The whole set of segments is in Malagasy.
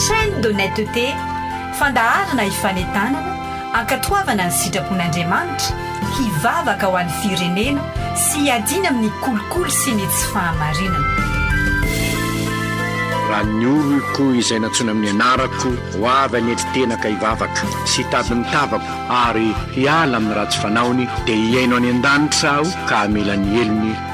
Chaîne d'honnêteté, fandaharana hifanentanana, hankatoavana ny sitrapon'Andriamanitra, hivavaka ho an'ny firenena sy hiadiana amin'ny kolikoly sy ny tsy fahamarinana. Raha ny oloko izay nantsoina amin'ny anarako ho avy any an-titenaka hivavaka sy hitady ny tavako ary hiala amin'ny ratsy fanaony, dia hihaino any an-danitra aho ka hamela ny helony,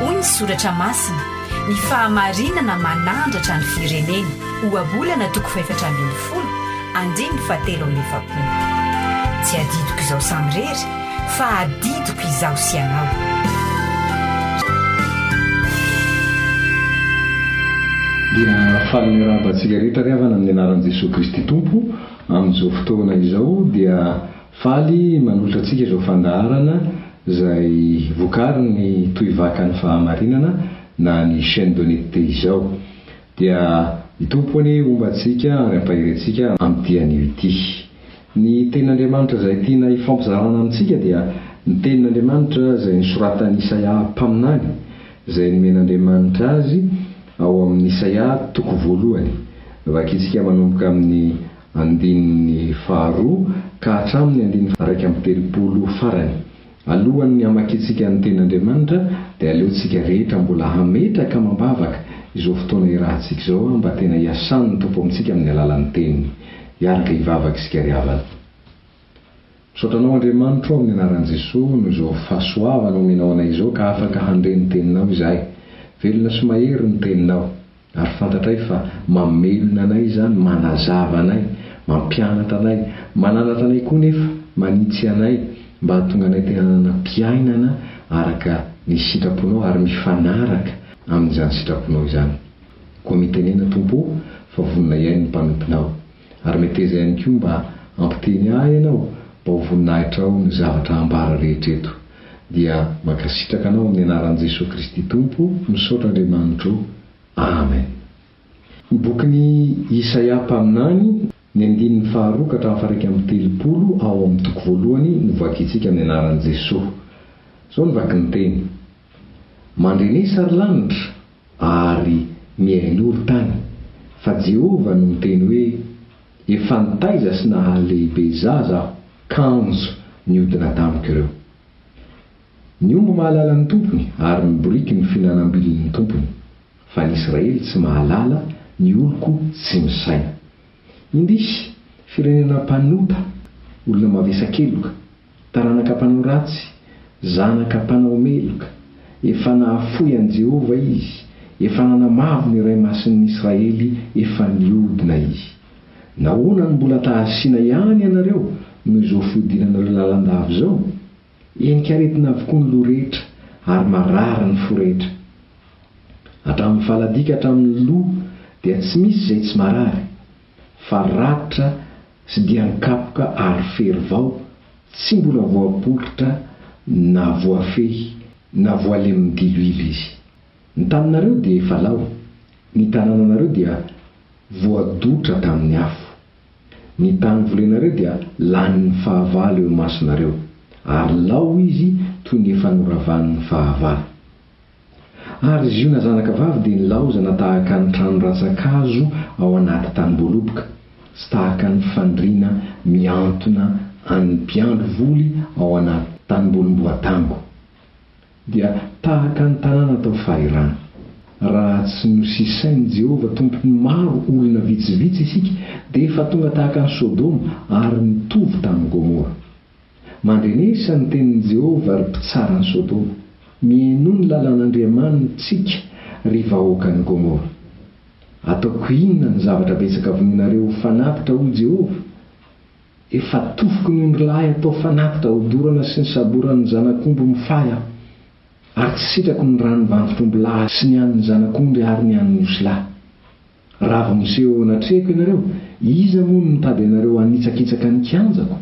Hoy ny soratra masina, Ny fahamarinana manandratra ny firenena, Ohabolana toko fahefatra ambin'ny folo, andininy fahatelo amby efapolo. Tsy adidiko izao samirery, fa adidiko izaho sy ianao. Dia faly miarahaba antsika rehetra ry havana amin'ny anaran'i Jesoa Kristy Tompo, amin'izao fotoana izao dia faly manolotra antsika izao fandaharana izay vokarin'ny Tohivakan'ny Fahamarinana na ny Chaine d'Honnêteté izao. Dia i Tompo anie homba antsika ary hampahery antsika amin'ity anio ity. Ny Tenin'Andriamanitra izay tiana hifampizarana amintsika dia ny Tenin'Andriamanitra izay nosoratan'i Isaia mpaminany, izay nomen'Andriamanitra azy ao amin'ny Isaia toko voalohany. Vakintsika manomboka amin'ny andininy faharoa ka hatramin'ny andininy iraika amby telopolo farany. Alohan'ny hamakiantsika ny Tenin'Andriamanitra, dia aleontsika rehetra mbola hametraka amam-bavaka izao fotoana irahantsika izao mba tena hiasan'ny Tompo amintsika amin'ny alalan'ny Teniny. Hiaraka hivavaka isika ry havana. Misaotra Anao Andriamanitro o, amin'ny Anaran'i Jesoa, noho izao fahasoavana omenao anay izao ka afaka handre ny Teninao izahay. Velona sy mahery ny Teninao. Ary fantatray fa mamelona anay izany, manazava anay, mampianatra anay, mananatra anay koa nefa manitsy anay mba hahatonga anay te hanana fiainana araka ny sitraponao ary mifanaraka amin'izany sitraponao izany. Koa mitenena Tompo o, fa vonona hihaino ny mpanomponao. Ary meteza ihany koa mba hampiteny ahy ianao mba ho voninahitra ao ny zavatra ambara rehetra eto. Dia mankasitraka anao amin'ny anaran'i Jesoa Kristy Tompo, misaotra Andriamanitra o. Amen. Ny bokin'i Isaia mpaminany, ny andininy faharoa ka hatramin'ny faharaika amby telopolo ao amin'ny toko voalohany no vakintsika amin'ny anaran'i Jesoa. Izao no vakin'ny teny, Mandre ny sary lanitra, ary mihainory tany, fa Jehovah no niteny hoe, Efa nitaiza sy nahaly lehibe zaza aho, kanjo niodina tamiko ireo. Ny omby mahalala ny tompony, ary ny boriky ny fihinanam-bilin' ny tompony, fa ny Israely tsy mahalala, ny oloko tsy misaina. Indrisy, firenena mpanota, olona mavesa-keloka. Taranaka mpanao ratsy, zanaka mpanao meloka. Efa nahafoy an'i Jehovah izy, efa nanamavo ny Ray Masin'ny Israely, efa niodina izy. Nahoana no mbola ta-hasiana ihany ianareo noho izao fiodinanareo lalandava izao? Henin-karetina avokoa ny loha rehetra, ary marary ny fo rehetra. Hatramin'ny faladika hatramin'ny loha dia tsy misy izay tsy marary, fa ratra, Tsy dia an-kapoka ary fery vao, tsy mbola voapolitra na voafehy na voalemin'ny diloilo izy. Ny taninareo dia efa lao, ny tanànanareo dia voadotra tamin'ny afo. Ny tany volenareo dia lanin'ny fahavalo eo imasonareo, ary lao izy toy ny efa noravan'ny fahavalo. Ary Ziona zanakavavy dia nilaozana tahaka ny trano rantsan-kazo ao anaty tanim-boaloboka, sy tahaka ny fandriana mihantona an' ny mpiandry voly ao anaty tanimbolim-boatango, dia tahaka ny tanàna tao Fairana. Raha tsy nosisain' i Jehovah tompon' ny maro olona vitsivitsy isika, dia efa tonga tahaka an' i Sodoma ary nitovy tamin' i Gomora. Mandinisa ny tenin'i Jehovah, ry mpitsara an'i Sodoma. Mihainoa ny lalàn'Andriamanitsika, ry vahoakan'i Gomora. Ataoko inona ny zavatra betsaka vonoinareo ho fanatitra, hoy Jehovah? Efa atofiko ny ondrilahy atao fanatitra hodorana sy ny saboran'ny zanak'omby mifahy aho, ary tsy sitrako ny ràn'ny vantotr'ombilahy sy ny an'ny zanak'ondry ary ny an'ny osilahy. Raha avy miseho eo anatrehako ianareo, iza moa no nitady anareo hanitsakitsaka ny kianjako?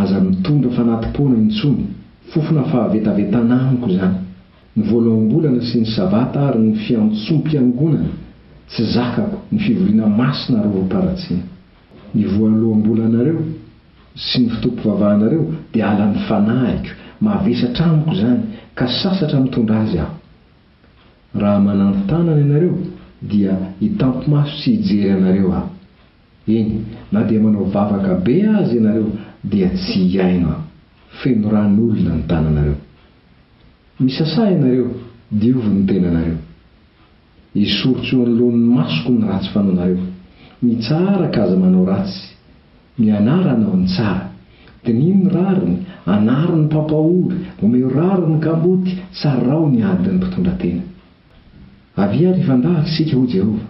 Aza mitondra fanati-poana intsony. Fofona fahavetavetana amiko izany. Ny voaloham-bolana sy ny Sabata ary ny fiantsom-piangonana, tsy zakako, ny fivoriana masina ary orim-paharatsiana. Ny voaloham-bolanareo sy ny fotoam-pivavahanareo dia halan'ny fanahiko. Mavesatra amiko izany, ka sasatra mitondra azy aho. Raha manampy tanana ianareo, dia hitampy-maso sy hijery anareo Aho. Eny, na dia manao vavaka be aza ianareo, dia tsy hihaino Aho. Feno ran'olona ny tananareo. Misasà ianareo, diovy ny tenanareo. Esoriko eo anoloan'ny masoko ny ratsy fanaonareo. Mitsara ka aza manao ratsy. Ny anarana ao ny tsara. Diniho ny rariny, anaro ny mpampahory, omeo rariny ny kamboty, sarao ny ady ny mpitondra tena. Avia ary hifandahatra isika, hoy Jehovah.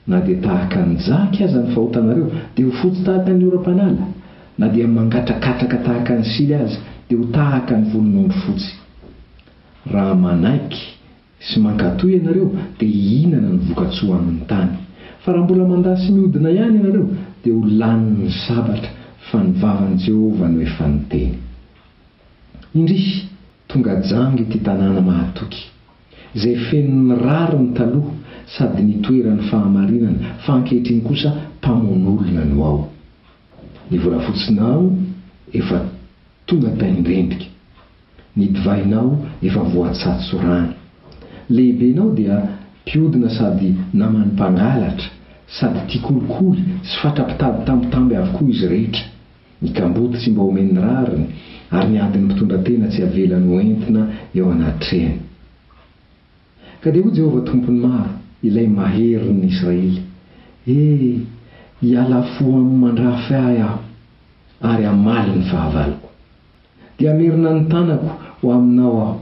Na dia tahaka ny jaky aza ny fahotanareo, dia ho fotsy tahaka ny oram-panala, na dia mangatrakatraka tahaka ny sily aza, dia ho tahaka ny volon'ondry fotsy. Raha manaiky sy mankatò ianareo dia hihinana ny voka-tsoan'ny tany. Fa raha mbola mandà sy mihodina ihany ianareo, dia ho lanin'ny sabatra, fa ny vavan'i Jehovah no efa niteny. Indrisy, tonga janga ity tanàna mahatoky, izay fenon'ny rariny taloha sady nitoeran'ny fahamarinana, fa ankehitriny kosa mpamono olona no ao. Ny volafotsiny ao efa tonga taingentika. Ny divainao efa voatsatso rano. Lehibenao dia mpiodina sady naman'ny mpangalatra, sady tia kolikoly sy fatra-pitady tambitamby avokoa izy rehetra. Ny kamboty tsy mba omen'ny rariny, ary ny adin'ny mpitondra tena tsy avelany ho entina eo anatrehany. Ka dia hoy Jehovah Tompon'ny maro, Ilay Maherin'ny Israely, He! hiala fo amin'ny mandrafy ahy aho, ary hamaly ny fahavaloko. Dia hamerina ny tanako ho aminao aho,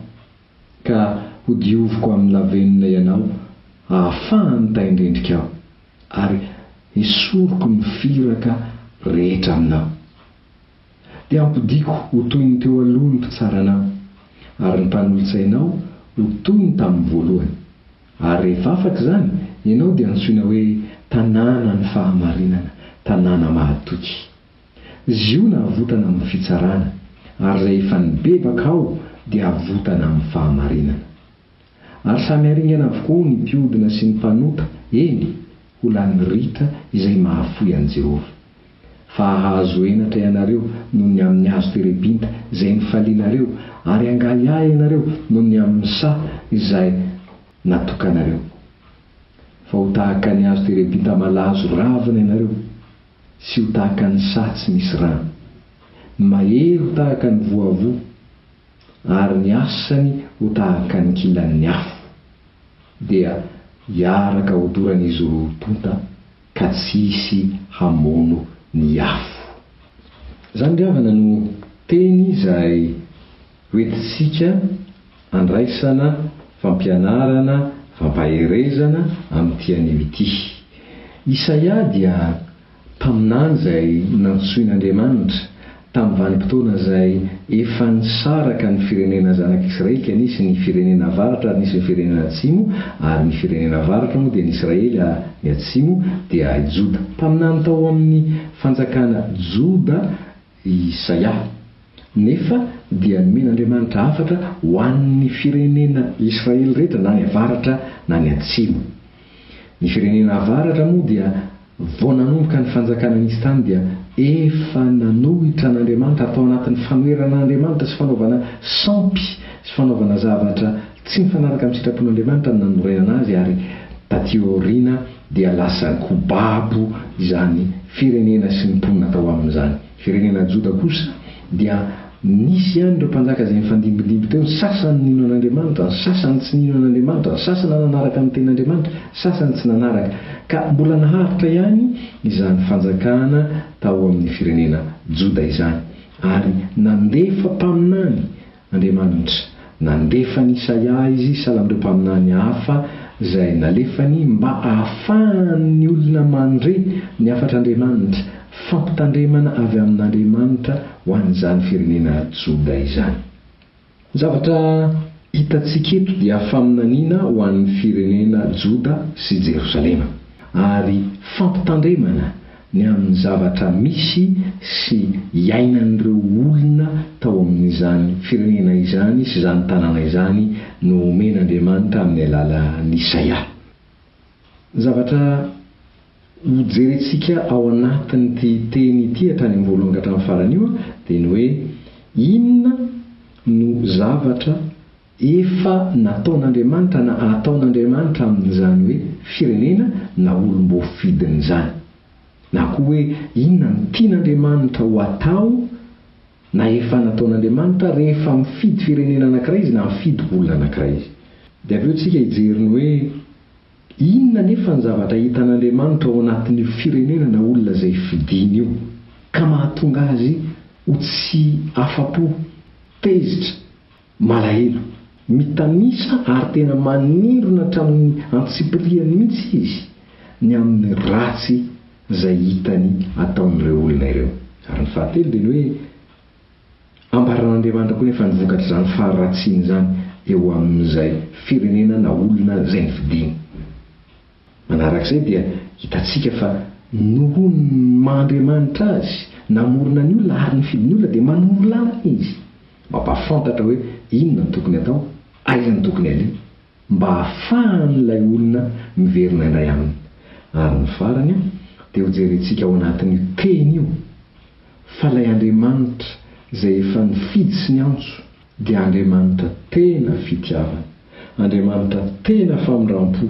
ka hodioviko amin'ny lavenona ianao hahafahan'ny tahin-drindrikao, ary hesoriko ny firaka rehetra aminao. Dia hampodiako ho toy ny teo aloha ny mpitsara anao, ary ny mpanolotsainao ho toy ny tamin'ny voalohany. Ary rehefa afaka izany, ianao dia hantsoina hoe, Tanànan'ny fahamarinana, Tanàna mahatoky. Ziona avotana amin'ny fitsarana, ary izay efa nibebaka ao dia avotana amin'ny fahamarinana. Ary samy haringana avokoa ny mpiodina sy ny mpanota, eny, ho lanin'ny ritra izay mahafoy an'i Jehovah. Fa hahazo henatra ianareo noho ny amin'ny hazo terebinta izay nifalianareo, ary hangahiahy ianareo noho ny amin'ny saha izay natokanareo. Fa ho tahaka ny hazo terebinta malazo ravina ianareo. Sy ho tahaka ny saha tsy misy rano. Ny mahery ho tahaka ny voavoa, ary ny asany ho tahaka ny kilan'ny afo, dia hiaraka hodoran'izy roa tonta ka tsy hisy hamono ny afo. Izany ry havana no teny izay. Hoentintsika handraisana fampianarana fampaherezana amin'ity anio ity. Isaia dia mpaminany izay nantsoin'Andriamanitra. Tamin'ny vanim-potoana izay efa nisaraka ny firenena zanak'Israely dia nisy ny firenena avaratra ary nisy ny firenena atsimo, ary ny firenena avaratra moa dia ny Israely ary ny atsimo dia i Joda. Mpaminany tao amin'ny fanjakana Joda. I Isaia, nefa, dia nomen'Andriamanitra hafatra ho an'ny firenena Israely rehetra na ny avaratra na ny atsimo. Ny firenena avaratra moa dia vao nanomboka ny fanjakana nisy tany dia efa nanohitra an'Andriamanitra ary tao anatin'ny fanoherana an'Andriamanitra sy fanaovana sampy sy fanaovana zavatra Tsy nifanaraka amin'ny sitrapon'Andriamanitra ny nanorenana azy ary taty aoriana dia lasa kobabo izany firenena sy ny mponina tao aminy izany. Ny firenena Joda kosa dia nisy ihany ireo mpanjaka izay nifandimbidimby teo, ny sasany nino an'Andriamanitra, ny sasany tsy nino an'Andriamanitra, ny sasany nanaraka ny tenin'Andriamanitra, ny sasany tsy nanaraka. Ka mbola naharitra ihany izany fanjakana tao amin'ny firenena Joda izany ary nandefa mpaminany. Andriamanitra. Nandefa an'i Isaia Izy hisahala amin'ireo mpaminany hafa izay nalefany mba hahafahan'ny olona mandre ny hafatr'Andriamanitra, fampitandremana avy amin'Andriamanitra ho an'izany firenena Joda izany. Ny zavatra hitantsika eto dia faminaniana ho an'ny firenena Joda sy Jerosalema, ary fampitandremana ny amin'ny zavatra misy sy iainan'ireo olona tao amin'izany firenena izany sy izany tanàna izany no omen'Andriamanitra amin'ny alalan'Isaia. Zavatra hojerentsika ao anatin'ity teny ity hatrany amin'ny voalohany ka hatramin'ny farany io dia ny hoe inona no zavatra Efa nataon'Andriamanitra na ataon'Andriamanitra amin'izany hoe firenena na olom-boafidiny izany. Na koa hoe inona no tian'Andriamanitra ho atao na efa nataon'Andriamanitra rehefa mifidy firenena anankiray Izy na mifidy olona anankiray Izy. Dia avy eo isika hijery ny hoe inona anefa ny zavatra hitan'Andriamanitra ao anatin'io firenena na olona izay fidiny io ka mahatonga azy ho tsy afa-po, tezitra Malahelo, mitanisa ary tena manindrona hatramin'ny antsipirihany mihitsy izy ny amin'ny ratsy izay hitany ataon'ireo olona ireo. Ary ny fahatelo dia ny hoe ambaran'Andriamanitra koa nefa ny vokatr'izany faharatsiany izany eo amin'izay firenena na olona izay nofidiny. Manarak'izay dia hitantsika fa noho ny maha Andriamanitra Azy namorona ny olona ary nifidy ny olona dia manoro lalana Izy mampahafantatra hoe inona no tokony atao, aiza no tokony aleha mba hahafahan'ilay olona miverina indray Aminy. Ary ny farany dia hojerentsika ao anatin'io teny io fa ilay Andriamanitra izay efa nifidy sy niantso, dia Andriamanitra tena fitiavana, Andriamanitra tena famindram-po,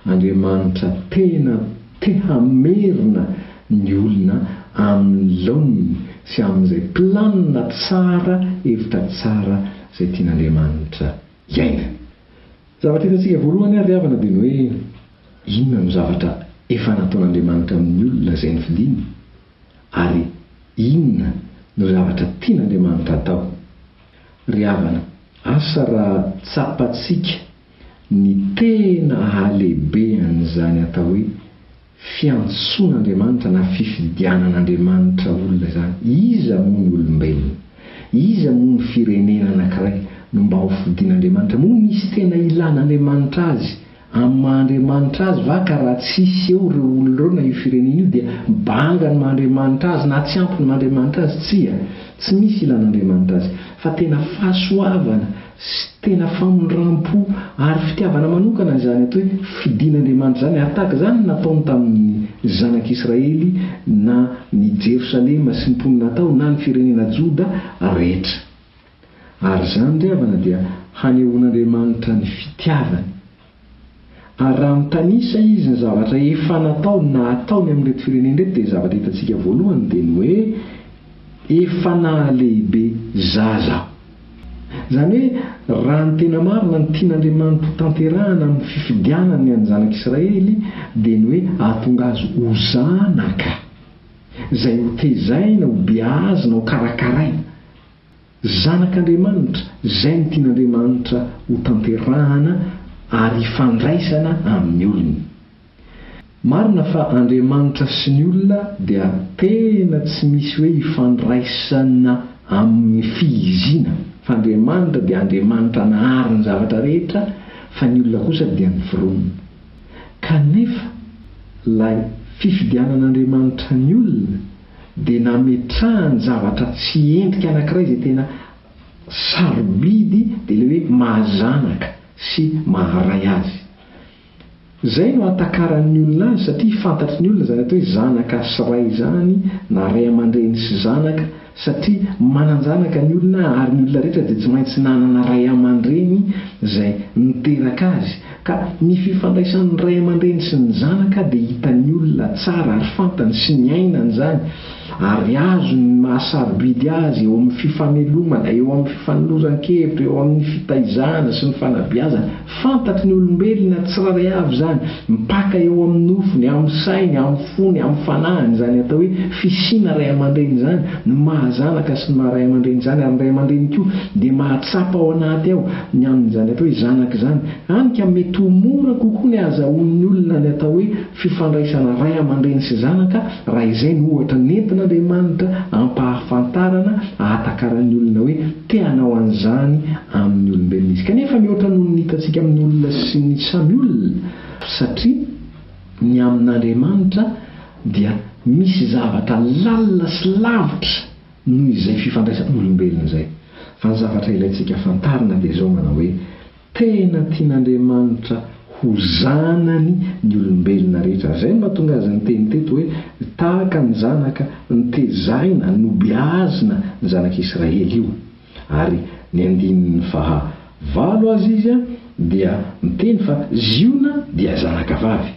Andriamanitra tena te hamerina ny olona amin'ny laoniny sy amin'izay planina tsara, hevitra tsara izay tian'Andriamanitra hiainga. Ny zavatra hitantsika voalohany ary ry havana dia ny hoe inona no zavatra efa nataon'Andriamanitra amin'ny olona izay nofidiny? ary inona no zavatra tian'Andriamanitra atao? Ry havana, asa raha tsapantsika ny tena halehibean'izany atao hoe fiantsoan'Andriamanitra na fifidianan'Andriamanitra olona izany. Iza moa ny olombelona? Iza moa ny firenena anankiray no mba hofidin'Andriamanitra? Moa misy tena ilàn'Andriamanitra azy? Amin'ny maha Andriamanitra azy va ka raha tsisy eo ireo olona ireo na io firenena io dia banga ny maha Andriamanitra azy na tsy ampy ny maha Andriamanitra azy? Tsia, tsy misy ilana Andriamanitra azy, fa tena fahasoavana sy tena famindrampo ary fitiavana manokana izany atao hoe fidin' Andriamanitra izany ary tahaka izany ny nataony tamin'ny zanak' Israely na ny Jerosalema sy ny mponina tao na ny firenena Joda rehetra. Ary izany ry havana dia hanehoan'Andriamanitra ny fitiavany. Ary raha mitanisa Izy ny zavatra efa nataony na hataony amin'ireto firenena ireto dia ny zavatra hitantsika voalohany dia ny hoe efa nahalehibe zaza aho. Izany hoe raha ny tena marina ny tian'Andriamanitra ho tanterahana amin'ny fifidianany ny an'ny zanak'Israely dia ny hoe hahatonga azy ho zanaka izay hotezaina, hobeazina, hokarakaraina. Zanak'Andriamanitra, izay no tian'Andriamanitra hotanterahana ary hifandraisana amin'ny olony. Marina fa Andriamanitra sy ny olona dia tena tsy misy hoe hifandraisana amin'ny fihiziana, fa Andriamanitra dia Andriamanitra nahary ny zavatra rehetra fa ny olona kosa dia ny foronina. Kanefa ilay fifidianan'Andriamanitra ny olona, dia nametrahany zavatra tsy endrika anankiray izay tena sarobidy dia ilay hoe mahazanaka sy maharay azy. Izay no ahatakaran'ny olona azy satria fantatry ny olona izany atao hoe zanaka sy ray izany na ray aman-dreny sy zanaka satria manan-janaka ny olona ary ny olona rehetra dia tsy maintsy nanana ray aman-dreny izay niteraka azy Ka ny fifandraisan'ny ray aman-dreny sy ny zanaka dia hitan'ny olona tsara ary fantany sy niainany izany ary azony ny maha sarobidy azy eo amin'ny fifamelomana, eo amin'ny fifanoloran-kevitra, eo amin'ny fitaizana sy ny fanabeazana. Fantatry ny olombelona tsirairay avy izany, mpaka eo amin'ny nofony, amin'ny sainy, amin'ny. fony amin'ny fanahiny izany atao hoe fisiana ray aman-dreny izany no maha zanaka sy ny maha ray aman-dreny izany ary ny ray aman-dreny koa dia mahatsapa ao anaty ao ny amin'izany atao hoe zanaka izany hany ka mety ho mora kokoa ny ahazahoan'ny olona ny atao hoe fifandraisana ray aman-dreny sy zanaka raha izay no ohatra nentin'Andriamanitra ampahafantarana ahatakaran'ny olona hoe te hanao an'izany amin'ny olombelona izy kanefa mihoatra noho ny hitantsika amin'ny olona sy ny samy olona satria Ny amin'Andriamanitra dia misy zavatra lalina sy lavitra noho izay fifandraisan'olombelona izay. Fa ny zavatra ilaintsika fantarina dia izao manao hoe, tena tian'Andriamanitra ho zanany ny olombelona rehetra. Izay no mahatonga azy niteny teto hoe, tahaka ny zanaka ntezaina, nobeazina ny zanak'Israely io. Ary ny andininy faha valo aza izy dia miteny fa Ziona dia zanaka vavy.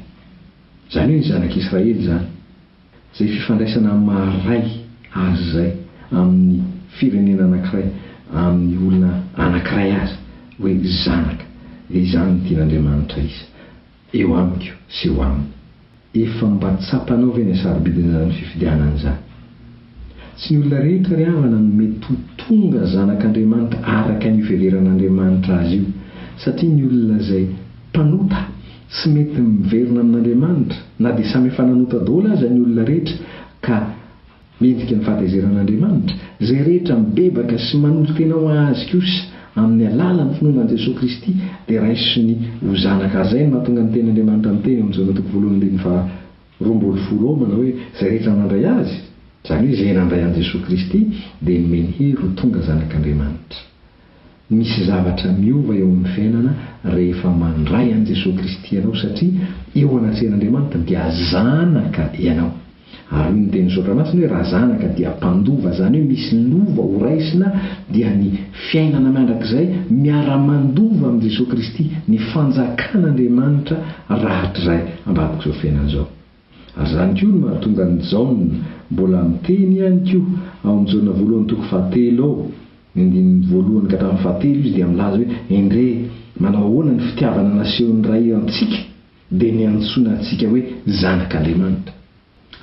Izany hoe ny zanak'i Israely izany. Izay fifandraisana amin'ny maha ray azy izay amin'ny firenena anankiray, amin'ny olona anankiray aza hoe zanaka. Dia izany no tian'Andriamanitra hisy. Eo amiko sy eo aminy. Efa mba tsapanao ve ny sarobidin' izany fifidianana izany? Tsy ny olona rehetra ry havana no mety ho tonga zanak' Andriamanitra araka ny fiheveran' Andriamanitra azy io, satria ny olona izay mpanota tsy mety miverina amin' Andriamanitra, na dia samy efa nanota daholo aza ny olona rehetra ka Midika ny fahatezeran'Andriamanitra izay rehetra mibebaka sy manolo-tena ho Azy kosa amin'ny alalan'ny finoana an'i Jesoa Kristy dia raisiny ho zanaka Azy. Izay no nahatonga ny tenin'Andriamanitra niteny ao amin'ny Jaona toko voalohany andininy faha roa ambin'ny folo ao manao hoe, Izay rehetra nandray Azy, izany hoe izay nandray an'i Jesoa Kristy, dia nomeny hery ho tonga zanak'Andriamanitra. Misy zavatra miova eo amin'ny fiainana rehefa mandray an'i Jesoa Kristy ianao satria eo anatrehan'Andriamanitra dia zanaka ianao. Ary hoy ny tenin'ny Soratra Masina hoe raha zanaka dia mpandova izany hoe misy lova ho raisina dia ny fiainana mandrakizay miara-mandova amin'i Jesoa Kristy ny fanjakan'Andriamanitra rahatrizay ambadik'izao fiainana izao. Ary izany koa no mahatonga an'i Jaona mbola miteny ihany koa ao amin'i Jaona voalohany toko fahatelo ao ny andininy voalohany ka hatramin'ny fahatelo izy dia milaza hoe, Endrey, manao ahoana ny fitiavana nasehon'ny Ray antsika, dia niantsoana antsika hoe zanak'Andriamanitra.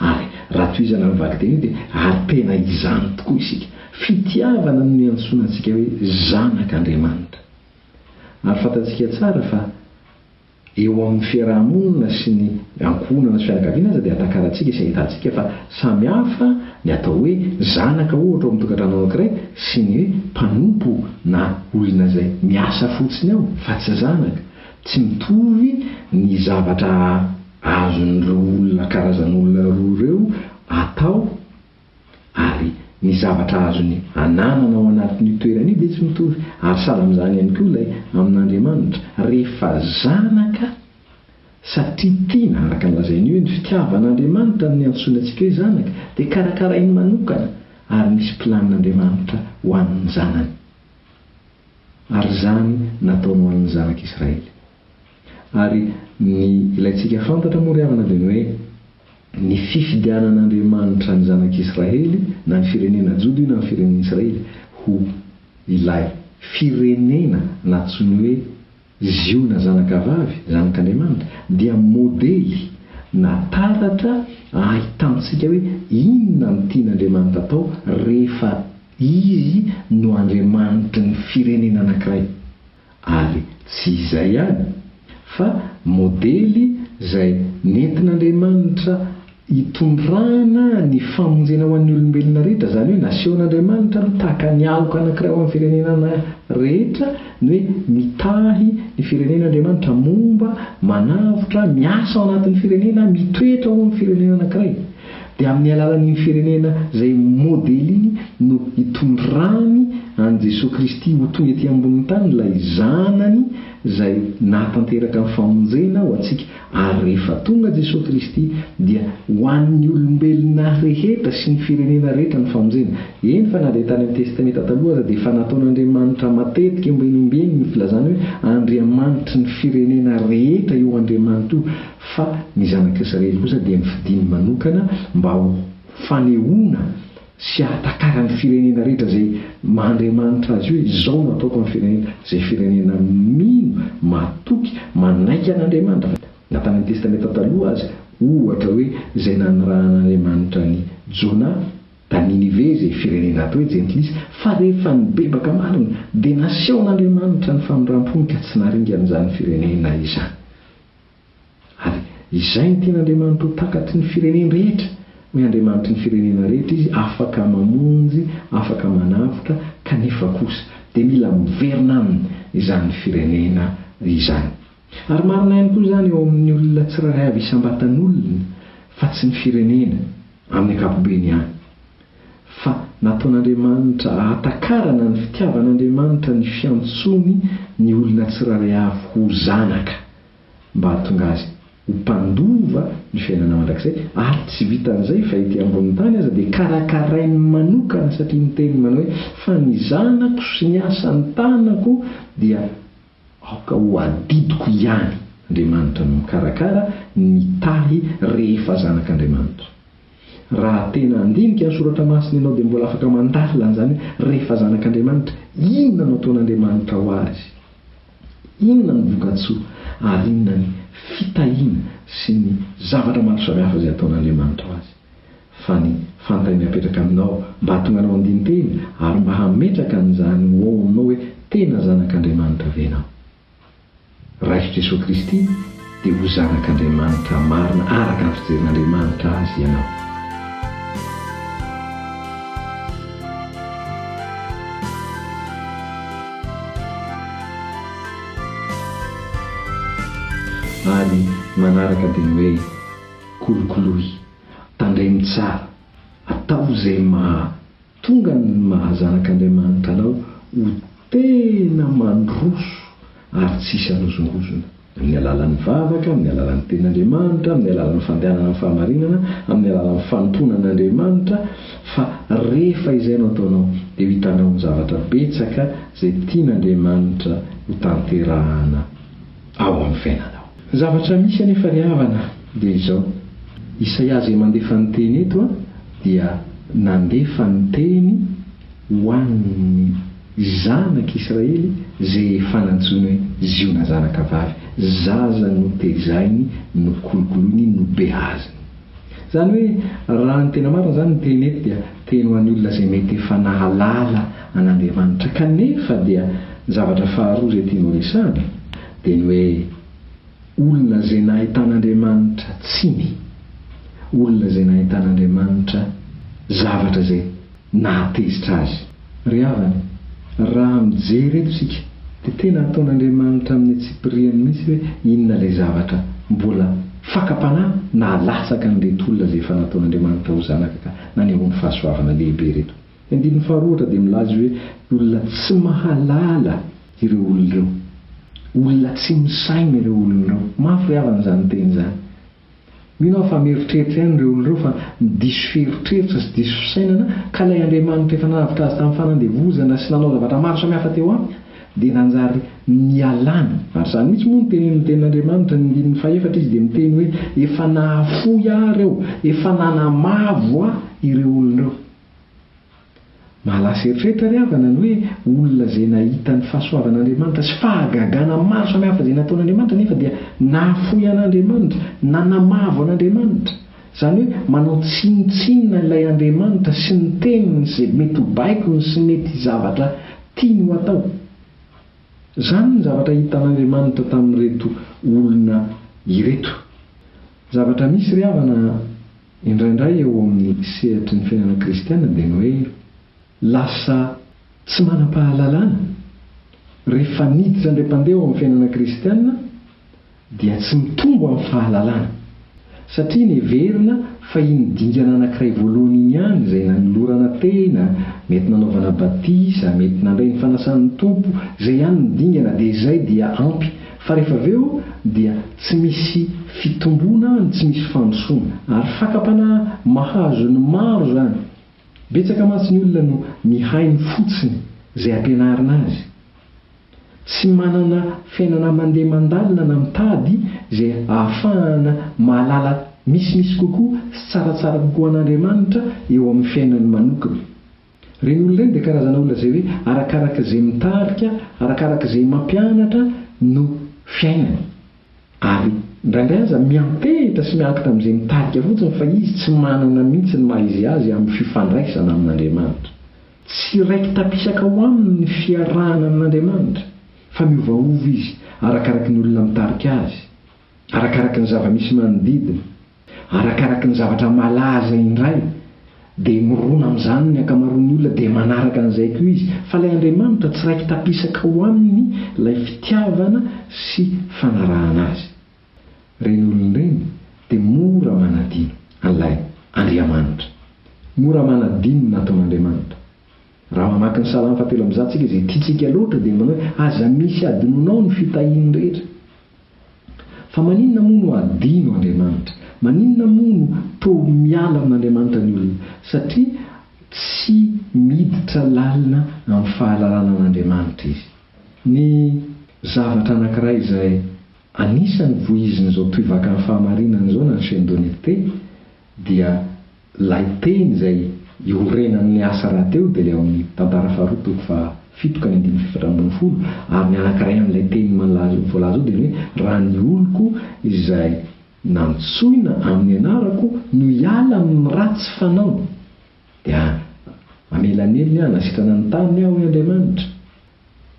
Ary raha tohizana amin'ny vakiteny io dia ary tena izany tokoa isika. Fitiavana no niantsoana antsika hoe zanak'Andriamanitra. Ary fantatsika tsara fa Eo amin'ny fiaraha-monina sy ny ankohonana sy fianakaviana aza dia atakarantsika sy ahitantsika fa samy hafa ny atao hoe zanaka ohatra ao amin'ny tokantrano anankiray sy ny hoe mpanompo na olona izay miasa fotsiny ao fa tsy zanaka. Tsy mitovy ny zavatra azon'ireo olona karazan'olona roa ireo atao. ary ny zavatra azony ananana ao anatin'io toerana io dia tsy mitovy, ary sahala amin'izany ihany koa ilay amin'Andriamanitra, rehefa zanaka, satria tiana, araka ny lazain'io hoe ny fitiavan'Andriamanitra no niantsoany antsika hoe zanaka, dia karakarainy manokana, ary misy planin'Andriamanitra ho an'ny zanany. Ary izany nataony ho an'ny zanak'Israely. Ary ny ilaintsika fantatra moa ry havana dia ny hoe ny fifidianan'Andriamanitra ny zanak'Israely, na ny firenena Joda io na ny firenen'Israely, ho ilay firenena natsoiny hoe Ziona zanakavavy, zanak'Andriamanitra, dia modely na taratra ahitantsika hoe inona no tian'Andriamanitra atao rehefa Izy no Andriamanitry ny firenena anankiray. Ary tsy izay ihany, fa modely izay nentin'Andriamanitra hitondrana ny famonjena ho an'ny olombelona rehetra, izany hoe nasehon'Andriamanitra aloha tahaka ny aloka anankiray ho an'ny firenenana rehetra, ny hoe mitahy ny firenena Andriamanitra, momba, manavotra, miasa ao anatin'ny firenena, mitoetra ao amin'ny firenena anankiray. Dia amin'ny alalan'iny firenena izay ho modely iny no hitondrany an'i Jesoa Kristy ho tonga ety ambonin'ny tany ilay Zanany izay nahatanteraka ny famonjena ho antsika. Ary rehefa tonga Jesoa Kristy dia ho an'ny olombelona rehetra sy ny firenena rehetra ny famonjena. Eny fa na dia tany amin'ny Testamenta Taloha aza dia efa nataon'Andriamanitra matetika ombieny ombieny ny filazana hoe Andriamanitry ny firenena rehetra io Andriamanitra io fa ny zanak'i Israely kosa dia nofidiny manokana mba ho fanehoana sy hahatakaran'ny firenena rehetra izay maha Andriamanitra azy hoe izao no hataoko amin'ny firenena, izay firenena mino, matoky, manaiky an'Andriamanitra, fa na tany amin'ny Testamenta Taloha aza, ohatra hoe izay nanirahan'Andriamanitra an'i Jona, da Ninive izay firenena atao hoe jentilisa, fa rehefa nibebaka marina dia nasehon'Andriamanitra ny famindram-pony ka tsy naringan'izany firenena izany. Ary Izay ny tena Andriamanitro takatry ny firenen rehetra, ny Andriamanitry ny firenena rehetra Izy afaka mamonjy, afaka manavotra, kanefa kosa dia mila miverina aminy izany firenena izany. Ary marina ihany koa izany eo amin'ny olona tsirairay avy isam-batan'olona fa tsy ny firenena amin'ny ankapobeny ihany. fa nataon'Andriamanitra hahatakarana ny fitiavan'Andriamanitra ny fiantsoany ny olona tsirairay avy ho zanaka, mba hahatonga azy ho mpandova ny fiainana mandrakizay, ary tsy vitan'izay fa ety ambonin'ny tany aza dia karakarainy manokana satria niteny manao hoe, Fa ny zanako sy ny asan'ny tanako dia Aoka ho adidiko ihany Andriamanitra no mikarakara ny mitahy rehefa zanak'Andriamanitra. Raha tena handinika ny soratra masina ianao dia mbola afaka mandalina an'izany rehefa zanak'Andriamanitra, inona no ataon'Andriamanitra ho azy? Inona ny vokatsoa ary inona ny fitahiana sy ny zavatra maro samihafa izay ataon'Andriamanitra ho azy? fa ny fantany hapetraka aminao mba hahatonga anao handini-tena ary mba hametraka an'izany ho ao aminao hoe tena zanak'Andriamanitra ve ianao. Raiso Jesoa Kristy dia ho zanak'Andriamanitra marina araka ny fijerin'Andriamanitra azy ianao. Ary manaraka dia ny hoe. Kolokoloy, tandremo tsara, ataovy izay maha tonga ny maha zanak'Andriamanitra anao ho tena mandroso ary tsy hisy hanozongozona, amin'ny alalan'ny vavaka, amin'ny alalan'ny Tenin'Andriamanitra, amin'ny alalan'ny fandehanana amin'ny fahamarinana, amin'ny alalan'ny fanompoana an'Andriamanitra, fa rehefa izay no ataonao dia ho hitanao ny zavatra betsaka izay tian'Andriamanitra ho tanterahana. ao amin'ny fiainanao. Ny zavatra misy anefa ry havana dia izao, Isaia izay mandefa ny teny eto dia nandefa ny teny ho an'ny zanak'Israely izay efa nantsoiny hoe Ziona zanaka vavy, zaza notezainy, nokolokoloiny, nobeaziny. Izany hoe raha ny tena marina izany ny teny eto dia teny ho an'ny olona izay mety efa nahalala an'Andriamanitra. Kanefa dia ny zavatra faharoa izay tiany horesahana dia ny hoe olona izay nahitan'Andriamanitra tsiny, olona izay nahitan'Andriamanitra zavatra izay. Nahatezitra azy. Ry havana, raha mijery eto isika dia tena ataon'Andriamanitra amin'ny antsipiriany mihitsy hoe inona ilay zavatra mbola fakam-panahy nahalatsaky an'ireto olona izay efa nataon'Andriamanitra ho zanaka ka nanehoany fahasoavana lehibe ireto. Ny andininy faharoa ohatra dia milaza izy hoe olona tsy mahalala ireo olona ireo. Olona tsy misaina ireo olona ireo. Mafy ry havana izany teny izany. Mino aho fa mieritreritra ihany ireo olona ireo fa diso fieritreritra sy diso fisainana ka ilay Andriamanitra efa nanavotra azy tamin'ny fanandevozana sy nanao zavatra maro samihafa teo aminy dia nanjary nialany. Ary izany mihitsy moa no tenenin'ny Tenin'Andriamanitra, ny andininy fahefatra izy dia miteny hoe efa nahafoy aho ireo, efa nanamavo aho ireo olona ireo. Mahalasa eritreritra ry havana ny hoe olona izay nahita ny fahasoavan'Andriamanitra sy fahagagana maro samihafa izay nataon'Andriamanitra nefa dia nahafoy an'Andriamanitra, nanamavo an'Andriamanitra. Izany hoe manao tsinontsinona ilay Andriamanitra sy ny teniny sy izay mety ho baikony sy mety zavatra tiany ho atao. Izany ny zavatra hitan'Andriamanitra tamin'ireto olona ireto. Zavatra misy ry havana a! Indraindray eo amin'ny sehatry ny fiainana kristiana dia ny hoe lasa tsy manam-pahalalana. Rehefa niditra indray mpandeha ao amin'ny fiainana kristiana dia tsy mitombo amin'ny fahalalana, satria neverina fa iny dingana anankiray voalohany iny ihany izay nanolorana tena, mety nanaovana batisa, mety nandray ny fanasan'ny Tompo, izay ihany no dingana dia izay dia ampy Fa rehefa avy eo dia tsy misy fitomboana no tsy misy fandrosoana. Ary fakam-panahy mahazo ny maro izany. Betsaka mantsy ny olona no mihaino fotsiny izay ampianarina azy. Tsy manana fiainana mandeha mandalina na mitady izay ahafahana mahalala misimisy kokoa sy tsaratsara kokoa an'Andriamanitra eo amin'ny fiainany manokana. Ireny olona ireny dia karazana olona izay hoe arakaraka izay mitarika, arakaraka izay mampianatra no fiainany. Ary indraindray aza miantehitra sy miankina amin'izay mitarika fotsiny fa izy tsy manana mihitsy ny maha izy azy amin'ny fifandraisana amin'Andriamanitra. Tsy raiki-tapisaka ao aminy ny fiarahana amin'Andriamanitra fa miovaova izy arakaraka ny olona mitarika azy. Arakaraky ny zava-misy manodidina, arakaraky ny zavatra malaza indray, dia mirona amin'izany ny ankamaroan'ny olona, dia manaraka an'izay koa izy. Fa ilay Andriamanitra tsy raiki-tapisaka ao aminy ilay fitiavana sy fanarahana Azy. Ireny olona ireny dia mora manadino an'ilay Andriamanitra. Mora manadino ny nataon'Andriamanitra. Raha mamaky ny Salamo fahatelo amby zato tsika izay tiantsika loatra dia manao hoe, Aza misy hadinonao ny fitahiany rehetra. Fa maninona moa no hadino Andriamanitra? Maninona moa no toa miala amin'Andriamanitra ny olona? Satria tsy miditra lalina amin'ny fahalalana an'Andriamanitra izy. Ny zavatra anankiray izay anisan'ny vohizin'izao tohivakany fahamarinana izao na ny chaine de lecte, dia lay teny izay iorenan'ny asa rahateo dia ilay ao amin'ny Tantara faharoa toko faha fito ka ny andininy efatra ambin'ny folo ary ny anankiray amin'ilay teny malaza voalaza ao dia ny hoe raha ny oloko izay nantsoina amin'ny anarako no hiala amin'ny ratsy fanaony dia hamelanelony ahy na sitrana ny taniny aho hoy Andriamanitra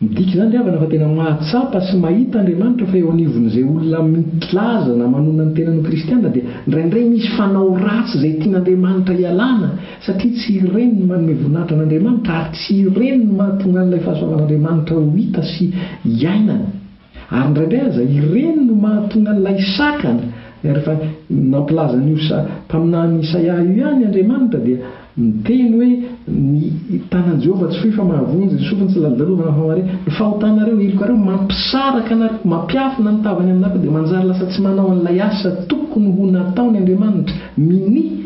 Midika izany ry havana fa tena mahatsapa sy mahita Andriamanitra fa eo anivon'izay olona milaza na manonona ny tenany ho kristiana dia indraindray misy fanao ratsy izay tian'Andriamanitra hialana satria tsy ireny no manome voninahitra an'Andriamanitra ary tsy ireny no mahatonga an'ilay fahasoavan'Andriamanitra ho hita sy iainana. Ary indraindray aza ireny no mahatonga an'ilay sakana, rehefa nampilaza an'io mpaminany Isaia io ihany Andriamanitra, dia miteny hoe, Ny tanan'i Jehovah tsy fohy fa mahavonjy, ny sofiny tsy lalodalovana fa mahare. Ny fahotanareo, helokareo, mampisaraka anareo, mampiafina ny tavany aminareo, dia manjary lasa tsy manao an'ilay asa tokony ho nataony Andriamanitra, minia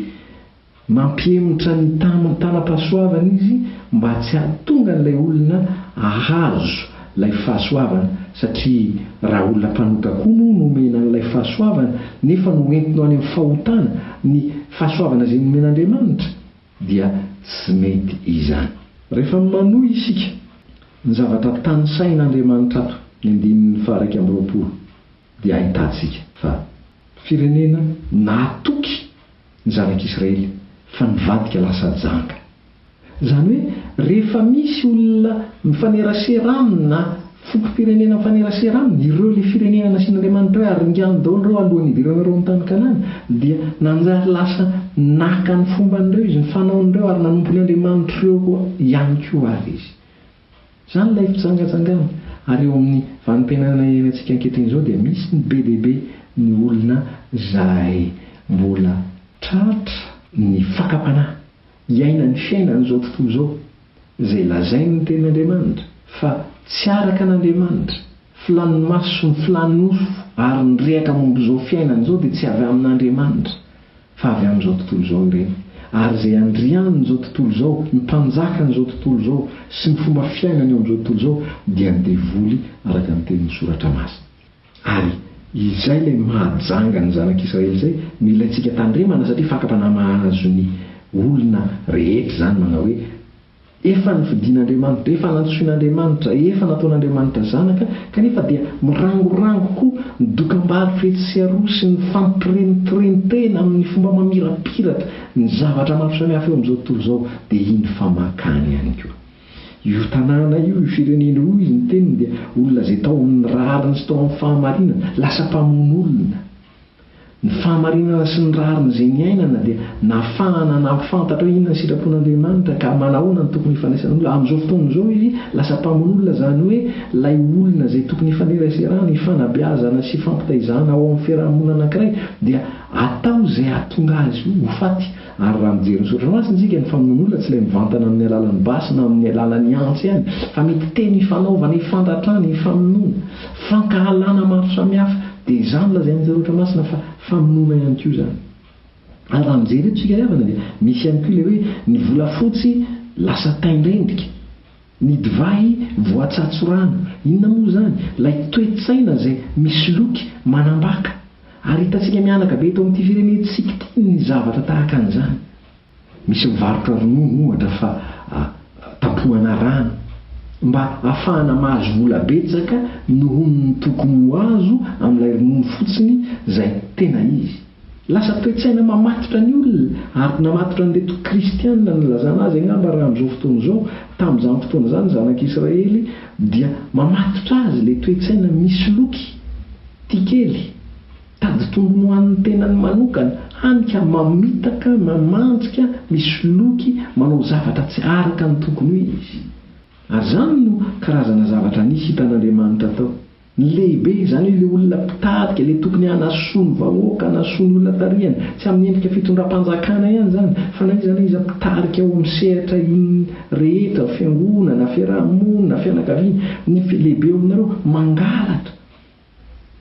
Mampihemotra ny tamin'ny tanam-pahasoavana izy mba tsy hahatonga an'ilay olona hahazo ilay fahasoavana, satria raha olona mpanota koa moa no omena an'ilay fahasoavana, nefa noentiny ho any amin'ny fahotana ny fahasoavana izay nomen'Andriamanitra, dia tsy mety izany. Rehefa manohy isika ny zavatra tanisain'Andriamanitra ato ny andininy faha-iraika amby roapolo, dia ahitantsika fa firenena nahatoky. ny zanak'Israely fa nivadika lasa janga. Izany hoe rehefa misy olona mifanerasera aminy na fokom-pirenena mifanerasera aminy, ireo ilay firenena nasian'Andriamanitra hoe aringano daholo ireo alohan'ny hidirana ireo amin'ny tany Kanana, dia nanjary lasa naka ny fomban'ireo izy, ny fanaon'ireo ary nanompo ny andriamanitr'ireo ihany koa ary izy. Izany ilay fijangajangana. Ary eo amin'ny vanim-piainana iainantsika ankehitriny izao dia misy ny be dia be ny olona izay mbola tratra ny fakam-panahy hiaina ny fiainan'izao tontolo izao izay lazain'ny Tenin'Andriamanitra fa tsy araka an'Andriamanitra, filàn'ny maso sy ny filàn'ny nofo ary ny rehaka momba izao fiainana izao dia tsy avy amin'Andriamanitra. Fa avy amin'izao tontolo izao ireny, ary izay andrianin'izao tontolo izao, ny mpanjakan'izao tontolo izao sy ny fomba fiainany eo amin'izao tontolo izao dia ny devoly araka ny tenin'ny Soratra Masina. Ary izay ilay mahajanga ny zanak'Israely izay no ilaintsika tandremana satria fakam-panahy mahazo ny olona rehetra izany manao hoe, Efa nofidin'Andriamanitra, efa nantsoin'Andriamanitra, efa nataon'Andriamanitra zanaka, kanefa dia mirangorango koa ny dokam-bary fetsy sy aroa sy ny fampirentirentena amin'ny fomba mamirapiratra ny zavatra maro samihafa eo amin'izao tontolo izao, dia iny famakany ihany koa. Io tanàna io, io firenena io, hoy ny teniny, dia olona izay tao amin'ny rariny sy tao amin'ny fahamarinana, lasa mpamono olona. Ny fahamarinana sy ny rariny izay niainana dia nahafahana nampifantatra hoe inona ny sitrapon'Andriamanitra ka manahoana no tokony hifandraisan'olona amin'izao fotoana izao izy lasa mpamonolona izany hoe ilay olona izay tokony hifaneraserana, hifanabeazana sy hifampitaizana ao amin'ny fiarahamonina anankiray dia atao izay hahatonga azy ho faty. Ary raha mijery ny soratra masina isika, ny famonoana olona tsy ilay mivantana amin'ny alalan'ny basy na amin'ny alalan'ny antsy ihany, fa mety teny ifanaovana, ifandratrana, ifamonoana, fankahalana maro samihafa, dia izany lazain'ny soratra masina fa famonoana ihany koa izany. Ary raha mijery eto isika ry havana dia misy ihany koa ilay hoe ny volafotsy lasa tain-drendrika. Ny divay voatsatso rano, inona moa izany? Ilay toe-tsaina izay misoloky, manambaka. Ary hitantsika mihanaka be eto amin'ity firenentsika ity ny zavatra tahaka an'izany. Misy mivarotra ronono, ohatra, fa tampohana rano, mba hahafahana mahazo vola betsaka noho ny tokony ho azo amin'ilay ronono fotsiny izay tena izy. Lasa toe-tsaina mamatotra ny olona, ary namatotra an'ireto Kristianina nilazana azy angamba raha amin'izao fotoana izao, tamin'izany fotoana izany ny zanak'i Israely dia mamatotra azy ilay toe-tsaina misoloky, tia kely, tady tombony ho an'ny tenany manokana, hany ka mamitaka, mamanjika, misoloky, manao zavatra tsy araka ny tokony ho izy. Ary izany no karazana zavatra nisy hitan'Andriamanitra tao. Ny lehibe izany ilay olona mpitarika, ilay tokony hanasoa ny vahoaka, hanasoa ny olona tarihany. Tsy amin'ny endrika fitondram-panjakana ihany izany, fa na iza na iza mpitarika ao amin'ny sehatra inona rehetra, fiangonana, fiaraha-monina, fianakaviana, ny lehibe ao aminareo mangalatra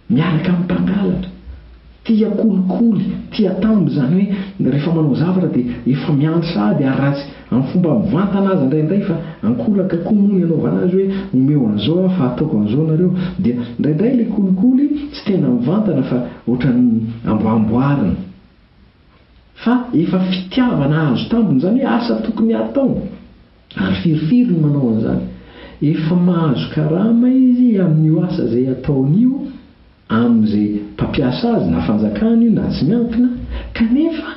miaraka amin'ny mpangalatra. Tia kolikoly, tia tambo, izany hoe rehefa manao zavatra dia efa miandry sahady ary ratsy amin'ny fomba mivantana aza indraindray fa ankolaka koa moa ny anaovana azy hoe omeo an'izao aho fa ataoko an'izao nareo dia indraindray ilay kolikoly tsy tena mivantana fa ohatran'ny amboamboarina fa efa fitiavana hahazo tambiny izany hoe asa tokony hatao ary firifiry no manao an'izany efa mahazo karama izy amin'io asa izay ataony io amin'izay mpampiasa azy na fanjakana io na tsy miankina, kanefa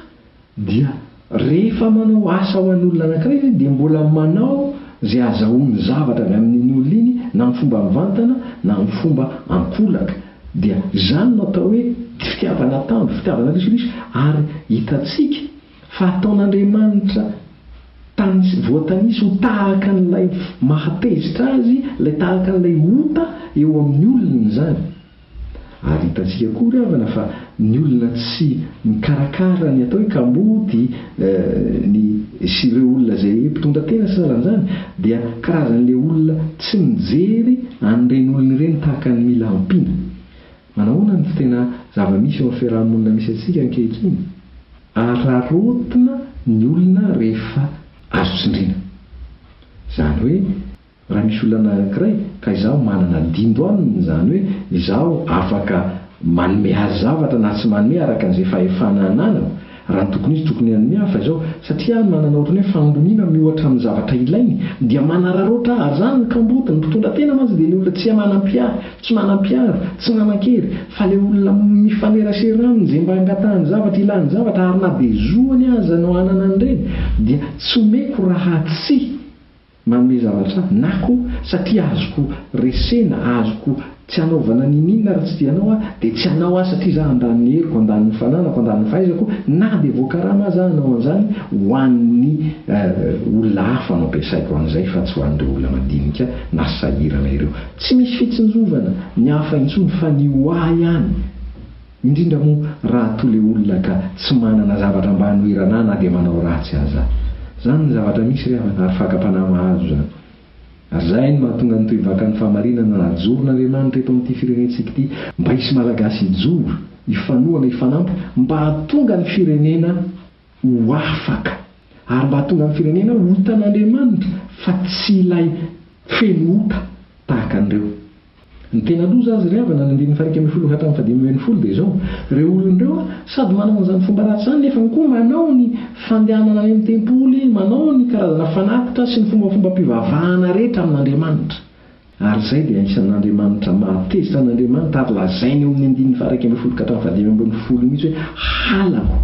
dia rehefa manao asa ho an'olona anankiray izy dia mbola manao izay azahoany zavatra avy amin'iny olona iny na amin'ny fomba mivantana na amin'ny fomba ankolaka, dia izany no atao hoe fitiavana tamby, fitiavana risoriso, ary hitantsika. Fa ataon'Andriamanitra tanis, voatanisy ho tahaka an'ilay mahatezitra azy, ilay tahaka an'ilay ota eo amin'ny olony izany. Ary hitantsika koa ry havana fa ny olona tsy mikarakara ny atao hoe kamboty ny sy ireo olona izay mpitondra tena sy salan'izany dia karazan'ilay olona tsy mijery an'ireny olona ireny tahaka ny mila ampiana. Manahoana ny tena zava-misy eo amin'ny fiaraha-monina misy antsika ankehitriny? Araraotina ny olona rehefa azo tsindriana. Izany hoe, raha misy olana anankiray ka izaho manana dindo aminy, izany hoe izaho afaka manome azy zavatra na tsy manome araka an'izay fahefana ananako, Raha ny tokony izy tokony hanome aho fa izao, satria manana ohatran'ny hoe fahamboniana miohatra amin'ny zavatra ilainy dia manararaotra ahy, ary izany no kamboty, ny mpitondra tena mantsy dia ny olona tsia manampy ahy, tsy manam-piaro, tsy manan-kery, fa ilay olona mifanerasera aminy izay mba angatahany zavatra, ilany zavatra, ary na dia zoany aza no hanana an'ireny dia tsy omeko raha tsy. Manome zavatra aho na koa satria azoko resena, azoko tsy anaovana niniana raha tsy dia anao aho, dia tsy anao aho satria za handany ny heriko, handany ny fananako, handany ny fahaizako na dia voakarama aza aho hanao an'izany ho an'ny olona hafa no ampiasaiko an'izay fa tsy ho an'ireo olona madinika na sahirana ireo. Tsy misy fitsinjovana ny hafa intsony fa ny ho ahy ihany. Indrindra moa raha toa le olona ka tsy manana zavatra mba hanoherana na dia manao ratsy aza. Zany ny zavatra misy ry havana ary fakam-panahy mahazo zany. Ary zay no mahatonga ny tohivakan'ny fahamarinana najoron'Andriamanitra eto amin'ity firenentsika ity mba hisy Malagasy hijoro, hifanohana, hifanampy mba hahatonga ny firenena ho afaka ary mba hahatonga ny firenena ho hitan'Andriamanitra fa tsy ilay feno ota tahaka an'ireo. Ny tena loza azy ry havana ny andininy faha-iraika ambin'ny folo ka hatramin'ny fahadimy ambin'ny folo dia izao, ireo olona ireo sady manana izany fomba ratsy izany nefany koa manao ny fandehanana any amin'ny tempoly, manao ny karazana fanatitra sy ny fombafombam-pivavahana rehetra amin'Andriamanitra. Ary izay dia isan'Andriamanitra mahateza. Isan'Andriamanitra ary lazainy eo amin'ny andininy faha-iraika ambin'ny folo ka hatramin'ny fahadimy ambin'ny folo mihitsy hoe, Halako,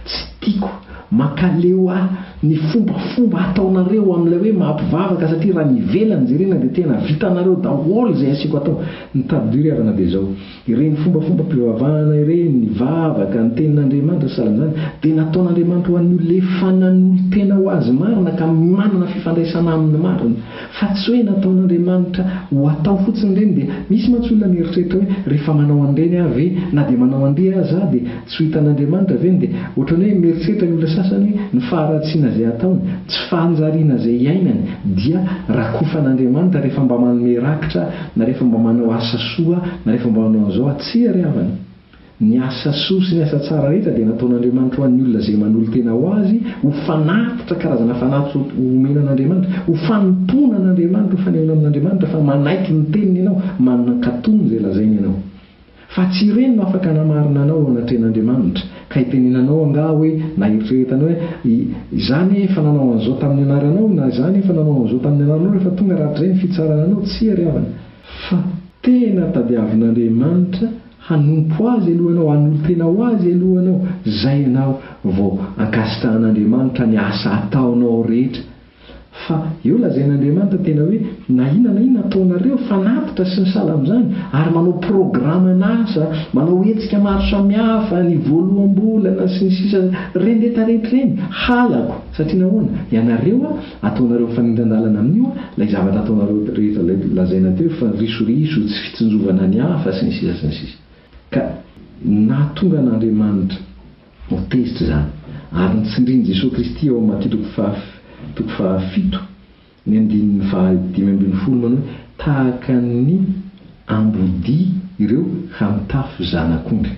tsy tiako, mankaleo ahy ny fombafomba ataonareo amin'ilay hoe maha-mpivavaka satria raha ny ivelany jerena dia tena vitanareo daholo izay asiako atao. Ny tadidio ry havana dia izao. Ireny fombafombam-pivavahana ireny, ny vavaka, ny Tenin'Andriamanitra sy sahala amin'izany, dia nataon'Andriamanitra ho an'ny olona efa nanolo-tena ho Azy marina ka manana fifandraisana Aminy marina. Fa tsy hoe nataon'Andriamanitra ho atao fotsiny ireny dia misy mantsy olona mieritreritra hoe rehefa manao an'ireny aho ve, na dia manao an'ity aza aho dia tsy ho hitan'Andriamanitra ve ny dia ohatran'ny hoe mieritreritra ny olona sasany hoe ny faharatsiana izay ataony, tsy fahanjariana izay iainany dia rakofan'Andriamanitra rehefa mba manome rakitra Na rehefa mba manao asa soa, na rehefa mba manao an'izao aho, tsia ry havana. Ny asa soa sy ny asa tsara rehetra dia nataon'Andriamanitra ho an'ny olona izay manolo-tena ho Azy, ho fanatitra, karazana fanatitra omena an'Andriamanitra, ho fanompoana an'Andriamanitra, ho fanehoana amin'Andriamanitra fa manaiky ny Teniny ianao, manan-katon' izay lazainy ianao. Fa tsy ireny no afaka hanamarina anao eo anatrehan'Andriamanitra. Ka hitenenanao angaha hoe, na heritreretana hoe, I, izaho anie efa nanao an'izao tamin'ny anaranao, na izaho anie efa nanao an'izao tamin'ny anaranao rehefa tonga rahatrizay ny fitsarana anao. Tsia ry havana. Fa tena tadiavin'Andriamanitra hanompo Azy aloha ianao, hanolo-tena ho Azy aloha ianao, izay ianao vao ankasitrahan'Andriamanitra ny asa ataonao rehetra, Fa eo lazain'Andriamanitra tena hoe, na inona na inona ataonareo, fanatitra sy ny sahala amin'izany, ary manao programan'asa, manao hetsika maro samihafa, ny voaloham-bolana, sy ny sisa Rendreta rehetra ireny, halako, satria nahoana? Ianareo, ataonareo mifanindran-dalana amin'io ilay zavatra ataonareo rehetra ilay lazaina teo hoe, fanrisoriso, tsy fitsinjovana ny hafa, sy ny sisa sy ny sisa. Ka nahatonga an'Andriamanitra. Ho tezitra izany, ary ny tsindrin'i Jesoa Kristy ao amin'ny Matio toko fahaf toko fahafito ny andininy fahadimy ambin'ny folo manao hoe tahaka ny ambodia ireo ha mitafy zanak'ondry,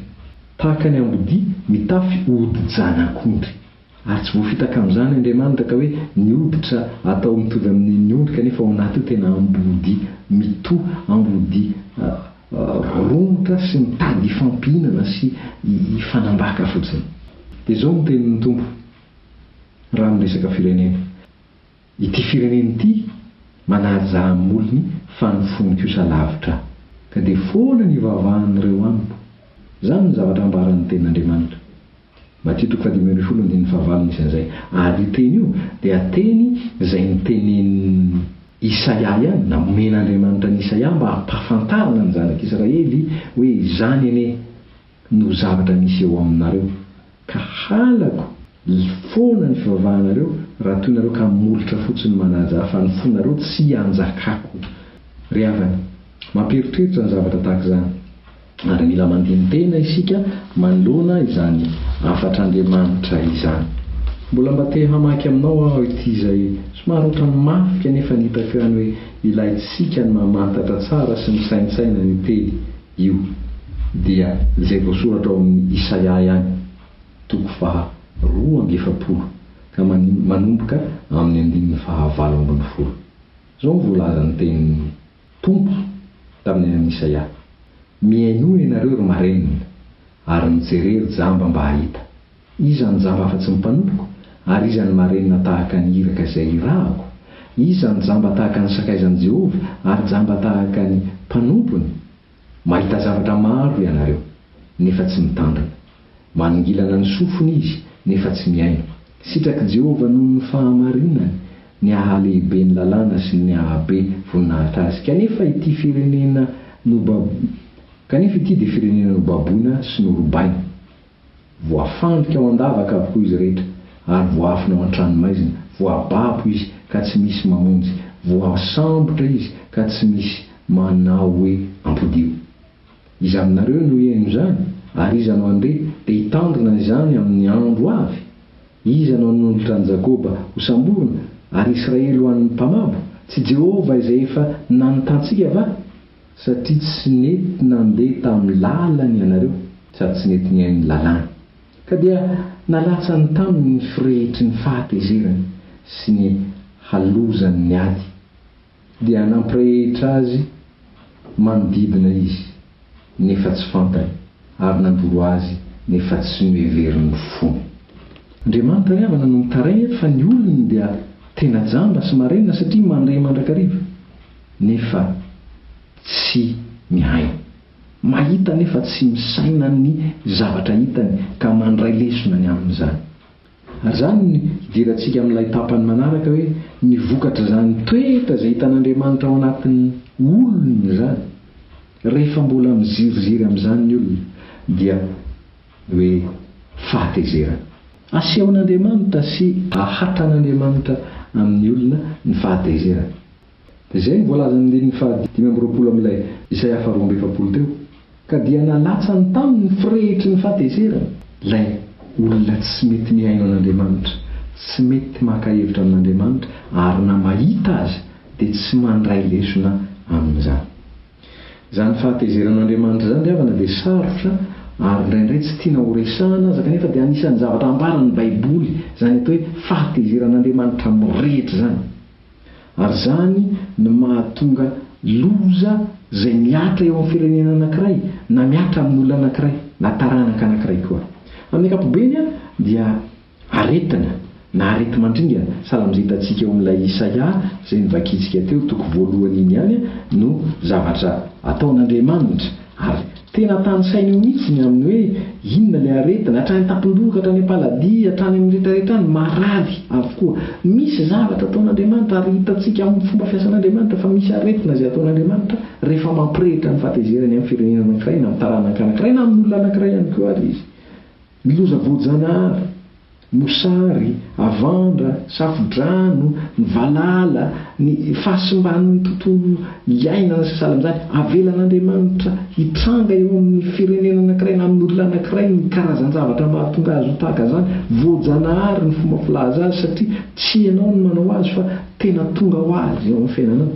tahaka ny ambodia mitafy odi-janak'ondry. Ary tsy voafitaka amin'izany Andriamanitra ka hoe ny hoditra atao mitovy amin'ny an'ny ondry kanefa ao anaty io tena ambodia mitoha ambodia Romotra sy mitady hifampihinana sy hifanambaka fotsiny. Dia izao no tenin'ny Tompo raha miresaka firenena, Ity firenena ity manaja amin'ny molony fa ny fony kosa lavitra Ahy, ka dia foana ny ivavahan'ireo amiko. Izany no zavatra ambaran'ny tenin'Andriamanitra. Matio toko fahadimy ambin'ny folo andininy fahavalo misy an'izay. Ary io teny io dia teny izay notenenin'i Isaia ihany, namen'Andriamanitra an'i Isaia mba hampahafantarana ny zanak'Israely hoe izany anie no zavatra misy eo aminareo, ka halako foana ny fivavahanareo raha toy nareo ka molotra fotsiny manaja ahy, fa ny fonareo tsy hanjakako. Ry havana, mampieritreritra ny zavatra tahaka izany. Ary mila mandini-tena isika manoloana izany hafatr'Andriamanitra izany. Mbola mba te hamaky aminao aho ity izay somary ohatran'ny mafy kanefa ny hitako ihany hoe ilaintsika ny mamantatra tsara sy misaintsaina io teny io. Dia izay voasoratra ao amin'ny Isaia ihany, toko faha roa amby efapolo ka manomboka amin'ny andininy faha valo ambin'ny folo. Izao no voalazan'ny tenin'ny. Tompo, tamin'ny anan'i Isaia. Mihainoa ianareo, ry marenina, ary mijere, ry jamba, mba hahita. Iza no jamba afa-tsy ny mpanompoko, ary iza ny marenina tahaka ny iraka izay hirahako? Iza no jamba tahaka ny sakaizan'i Jehovah, ary jamba tahaka ny mpanompony? Mahita zavatra maro ianareo, nefa tsy mitandrina. Maningilana ny sofiny izy, nefa tsy mihaino. Sitrak'i Jehovah noho ny fahamarinany ny haha-lehibe ny lalàna sy ny haha-be voninahitra azy. Kanefa ity firenena nobab-, kanefa ity dia firenena nobaboina sy norobaina. Voafandrika ao an-davaka avokoa izy rehetra, ary voaafina ao an-tranomaizina, voababo izy ka tsy misy mamonjy, voasambotra izy ka tsy misy manao hoe, Ampodiho. Iza aminareo no hihaino izany? Ary iza no handeha, dia hitandrina izany amin'ny andro avy? Iza no hanolotra an'i Jakoba ho samborina, ary Israely ho an'ny mpamabo? Tsy Jehovah izay efa nanotantsika va? Satria tsy nety nandeha tamin'ny lalany ianareo, sady tsy nety nihaino ny lalàny, ka dia nalatsany taminy ny firehitry ny fahatezerany sy ny halozan' ny ady, dia nampirehitra azy manodidina izy, nefa tsy fantany, ary nandoro azy, nefa tsy noheverin'ny fony. Andriamanitra Iavana no mitaraina eto fa ny olony dia tena jamba sy marenina satria mandre mandrakariva. nefa tsy mihaino, mahita nefa tsy misaina ny zavatra hitany ka mandray lesona ny amin'izany. Ary izany no hidirantsika amin'ilay tapany manaraka hoe ny vokatr'izany toetra izay hitan'Andriamanitra ao anatin'ny olony izany. Rehefa mbola miziriziry amin'izany ny olona dia ny hoe fahatezerana. Asehon'Andriamanitra sy ahatran'Andriamanitra amin'ny olona ny fahatezerana. izay no voalazan'ny andininy fahadimy amby roapolo amin'ilay Isaia faharoa amby efapolo teo, ka dia nalatsany taminy ny firehitry ny fahatezerana, ilay olona tsy mety mihaino an'Andriamanitra, tsy mety maka hevitra amin'Andriamanitra, ary na mahita aza dia tsy mandray lesona amin'izany. Izany fahatezeran'Andriamanitra izany ry havana dia sarotra ary indraindray tsy tiana ho resahana aza, kanefa dia anisan'ny zavatra ambaran'ny Baiboly izany atao hoe fahatezeran'Andriamanitra mirehitra izany. Ary izany no mahatonga loza izay mihatra eo amin'ny firenena anankiray, na mihatra amin'olona anankiray, na taranaka anankiray koa. Amin'ny ankapobeny dia aretina, na areti-mandringana, sahala amin'izay hitantsika eo amin'ilay Isaia izay novakintsika teo, toko voalohany iny ihany, no zavatra ataon'Andriamanitra. Ary tena tanisaina eo mihitsy ny amin'ny hoe inona ilay aretina, hatrany an-tampon-doha, hatrany am-paladia, hatrany amin'ny retraretra any, marary avokoa. Misy zavatra ataon'Andriamanitra ary hitantsika amin'ny fomba fiasan'Andriamanitra fa misy aretina izay ataon'Andriamanitra rehefa mampirehitra ny fahatezerany amin'ny firenena anankiray na amin'ny taranaka anankiray na amin'olona anankiray ihany koa ary Izy. Ny loza voajanahary, mosary, havandra, safo-drano, ny valala, ny fahasimban'ny tontolo iainana sy sahala amin'izany, avelan'Andriamanitra hitranga eo amin'ny firenena anankiray na amin'ny olona anankiray ny karazan-javatra mahatonga azy ho tahaka izany. Voajanahary ny fomba filaza azy satria tsy ianao no manao azy fa tena tonga ho azy eo amin'ny fiainanao.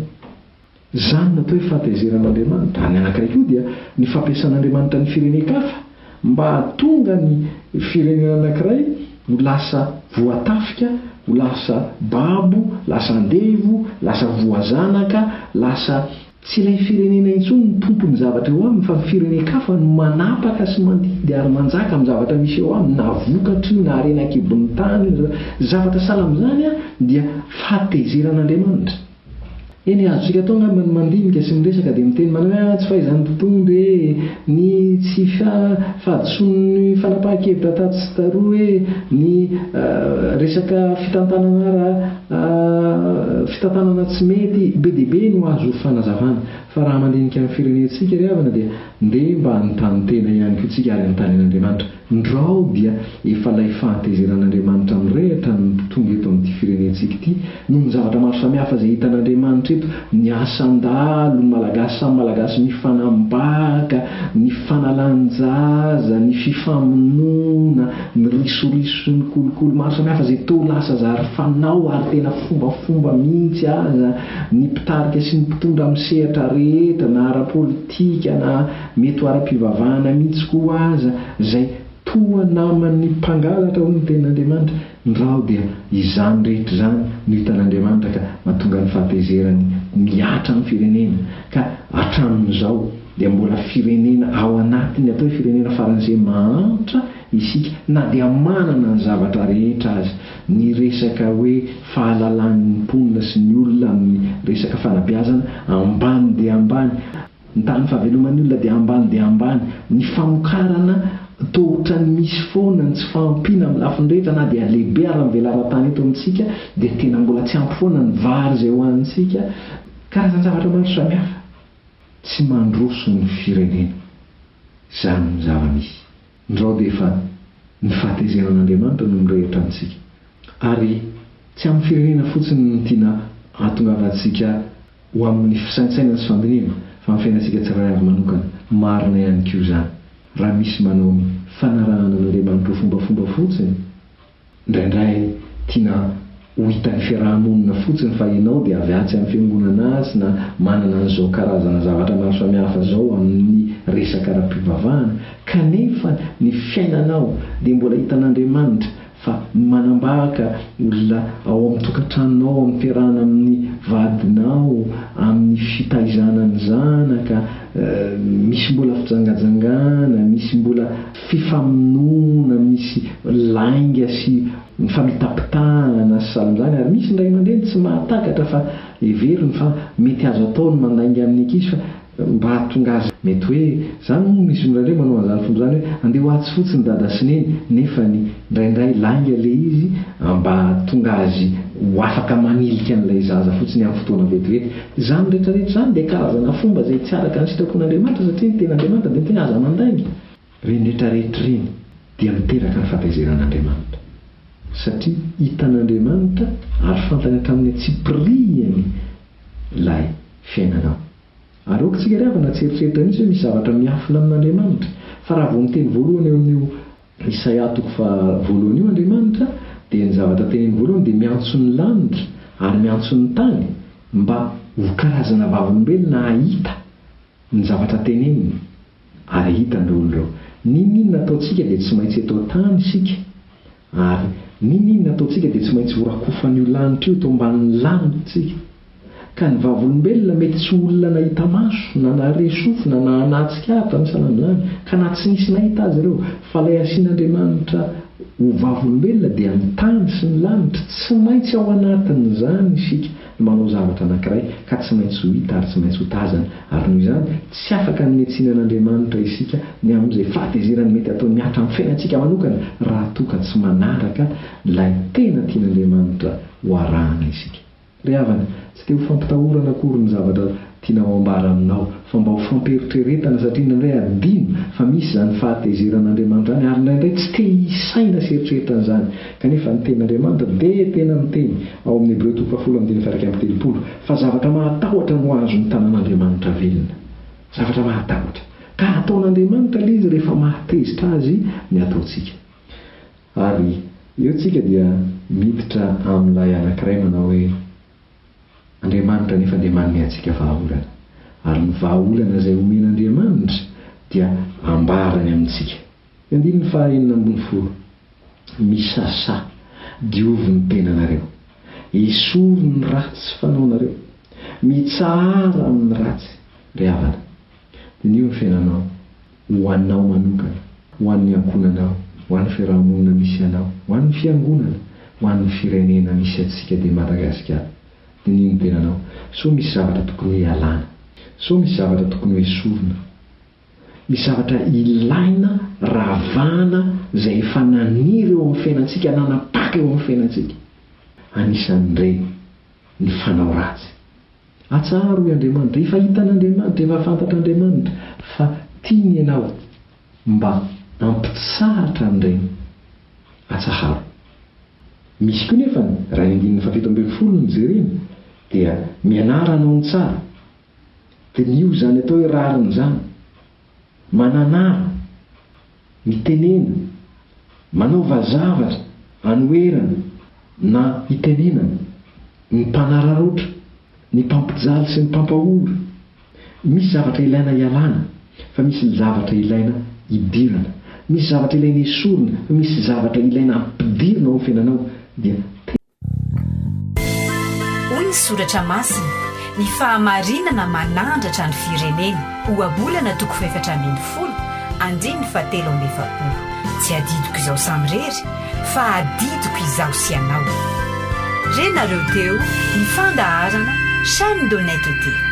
Izany no atao hoe fahatezeran'Andriamanitra. Ary ny anankiray koa dia ny fampiasan'Andriamanitra ny firenen-kafa mba hahatonga ny firenena anankiray ho lasa voatafika, ho lasa babo, lasa andevo, lasa voazanaka, lasa. Tsy ilay firenena intsony no tompon'ny zavatra eo aminy fa ny firenen-kafa no manapaka sy mandidy ary manjaka amin'ny zavatra misy eo aminy na vokatry io na harena an-kibon'ny tany io na zavatra sahala amin'izany dia fahatezeran'Andriamanitra. Eny, azontsika atao angamba ny mandinika sy miresaka dia miteny manao hoe ah tsy fahaizan'ny mpitondra e, ny tsy fahadisoan'ny fanapahan-kevitra tatsy sy taroa e, ny resaka fitantanana ara fitantanana tsy mety, be dia be no azo fanazavana. Fa raha mandinika ny firenentsika ry havana dia ndeha mba hanontany tena ihany koa tsika ary anontanian'Andriamanitra. Ndrao dia efa ilay fahatezeran'Andriamanitra mirehitra ny tonga eto amin'ity firenentsika ity noho ny zavatra maro samihafa izay hitan'Andriamanitra eto, ny asan-dahalo, ny Malagasy samy Malagasy mifanambaka, ny fanalan-jaza, ny fifamonoana, ny risoriso, ny kolikoly maro samihafa izay toa lasa zary fanao ary tena fombafomba mihitsy aza, ny mpitarika sy ny mpitondra amin'ny sehatra rehetra na ara-politika na Mety ho ara-pivavahana mihitsy koa aza izay toa naman'ny mpangalatra, hoy ny Tenin'Andriamanitra, ny rano dia izany rehetra izany no hitan'Andriamanitra ka mahatonga ny fahatezerany mihatra amin'ny firenena, ka hatramin'izao dia mbola firenena ao anatin'ny atao hoe firenena faran'izay mahantra isika na dia manana ny zavatra rehetra aza, ny resaka hoe fahalalan'ny mponina sy ny olona amin'ny resaka fanabeazana ambany dia ambany, Ny tahan'ny fahaveloman'ny olona dia ambany dia ambany. Ny famokarana toa ohatran'ny misy foana ny tsy fahampiana amin'ny lafiny rehetra na dia lehibe ara ny velaran-tany eto amintsika dia tena mbola tsy ampy foana ny vary izay hohanintsika. Karazan-javatra maro samihafa tsy mandroso ny firenena. Izany ny zava-misy. Ndrao dia efa ny fahatezenan'Andriamanitra no mirehitra amintsika. Ary tsy amin'ny firenena fotsiny no tiana hahatongavantsika ho amin'ny fisaintsainana sy fandinihana, fa amin'ny fiainantsika tsirairay avy manokana. Marina ihany koa izany, raha misy manao ny fanarahana an'Andriamanitra ho fombafomba fotsiny, Indraindray tiana ho hitan'ny fiaraha-monina fotsiny fa ianao dia avy atsy amin'ny fiangonana atsy na manana an'izao karazana zavatra maro samihafa izao amin'ny resaka ara-pivavahana, kanefa ny fiainanao dia mbola hitan'Andriamanitra fa manambaka olona ao amin'ny tokantranonao, ao amin'ny fiarahana amin'ny vadinao, amin'ny fitaizana ny zanaka, misy mbola fijangajangana, misy mbola. fifamonoana misy lainga sy famitapitahana sy salanjany ary misy ny ray aman-dreny tsy mahatakatra fa heveriny fa mety azo atao ny mandainga amin'ny ankizy fa mba hahatonga azy mety hoe zany moa misy mirandray manao an'zany fomba zany hoe andeha ho atsy fotsiny dada sy neny nefany ndraindray lainga le izy mba hahatonga azy ho afaka manilika an'ilay zaza fotsiny amin'ny fotoana vetivety zany retraretra zany dia karazana fomba zay tsy araka ny sitrapon'Andriamanitra satria ny tenin'Andriamanitra dia ny tena aza mandainga Ireny rehetra rehetra ireny dia miteraka ny fahatezeran'Andriamanitra, satria hitan'Andriamanitra ary fantany hatramin'ny antsipirihany ilay fiainanao. Ary aoka isika ry havana tsy hieritreritra mihitsy hoe misy zavatra miafina amin'Andriamanitra, fa raha vao miteny voalohany eo amin'io Isaia toko faha voalohany io Andriamanitra, dia ny zavatra teneniny voalohany dia miantso ny lanitra ary miantso ny tany mba ho karazana vavolombelona hahita ny zavatra teneniny. Ary hita ny olona eo. N'inon'inona ataontsika dia tsy maintsy eto an-tany isika, ary n'inon'inona ataontsika dia tsy maintsy horakofan'io lanitra io eto ambanin'ny lalintsika. Ka ny vavolombelona mety tsy ho olona nahita maso, na nahare sofina, na naha tsikara tamin'ny salan'izany, ka na tsy nisy nahita azy ireo, fa ilay asian'Andriamanitra ho vavolombelona dia ny tany sy ny lanitra, tsy maintsy ao anatin'izany isika. manao zavatra anankiray ka tsy maintsy ho hita ary tsy maintsy ho tazana, ary noho izany, tsy afaka hanentsina an'Andriamanitra isika ny amin'izay fahatezerany mety ataony mihatra amin'ny fiainantsika manokana raha toa ka tsy manaraka ilay tena tian'Andriamanitra ho arahana isika. Ry havana, tsy dia ho fampitahorana akory ny zavatra Tianao hambara aminao fa mba ho fampiheritreretana satria indraindray hadino fa misy izany fahatezeran' Andriamanitra izany ary indraindray tsy te hisaina sy eritreritra an'izany. Kanefa ny tenin' Andriamanitra dia tena niteny ao amin'ny Hebreo toko fahafolo andininy fahairaika amby telopolo fa zavatra mahatahotra no azo ny tanan' Andriamanitra velona. Zavatra mahatahotra. Ka hataon' Andriamanitra ilay izy rehefa mahatezitra azy ny ataontsika. Ary eo tsika dia miditra amin'ilay anankiray manao hoe. Andriamanitra anefa dia manome antsika vahaolana, ary ny vahaolana izay omen'Andriamanitra dia ambarany amintsika. Ny andininy faha enina ambin'ny folo, Misasa, diovy ny tenanareo. Esory ny ratsy fanaonareo. Mitsahara amin'ny ratsy, ry havana. Diniho ny fiainanao. Ho anao manokana, ho an'ny ankohonanao, ho an'ny fiaraha-monina misy anao, ho an'ny fiangonana, ho an'ny firenena misy antsika dia Madagasikara. Diniho ny tenanao. Sao misy zavatra tokony ho ialana. Sao misy zavatra tokony ho esorina. Misy zavatra ilaina ravahana izay efa naniry eo amin'ny fiainantsika, nanapaka eo amin'ny fiainantsika. Anisan'ireny ny fanao ratsy. Atsaharo, hoy Andriamanitra. Efa hitan'Andriamanitra, efa fantatr'Andriamanitra fa tiany ianao. Mba ampitsahatra an'ireny. Atsaharo. Misy koa nefa ny, raha ny andininy fahafito ambin'ny folo no jerena, dia mianara hanao ny tsara. Diniho izany atao hoe rariny izany. Mananara, mitenena, manaova zavatra anoherana na itenenana, ny mpanararaotra, ny mpampijaly sy ny mpampahory, misy zavatra ilaina ialana fa misy ny zavatra ilaina idirana, misy zavatra ilaina esorina fa misy zavatra ilaina ampidirina ao amin'ny fiainanao dia tena. Hoy ny soratra masina, Ny fahamarinana manandratra ny firenena, Ohabolana toko fahefatra ambin'ny folo, andininy fahatelo amby efapolo. Tsy adidiko izaho samirery, fa adidiko izaho sy ianao. Re nareo teo ny fandaharana Chaine d'honnêteté.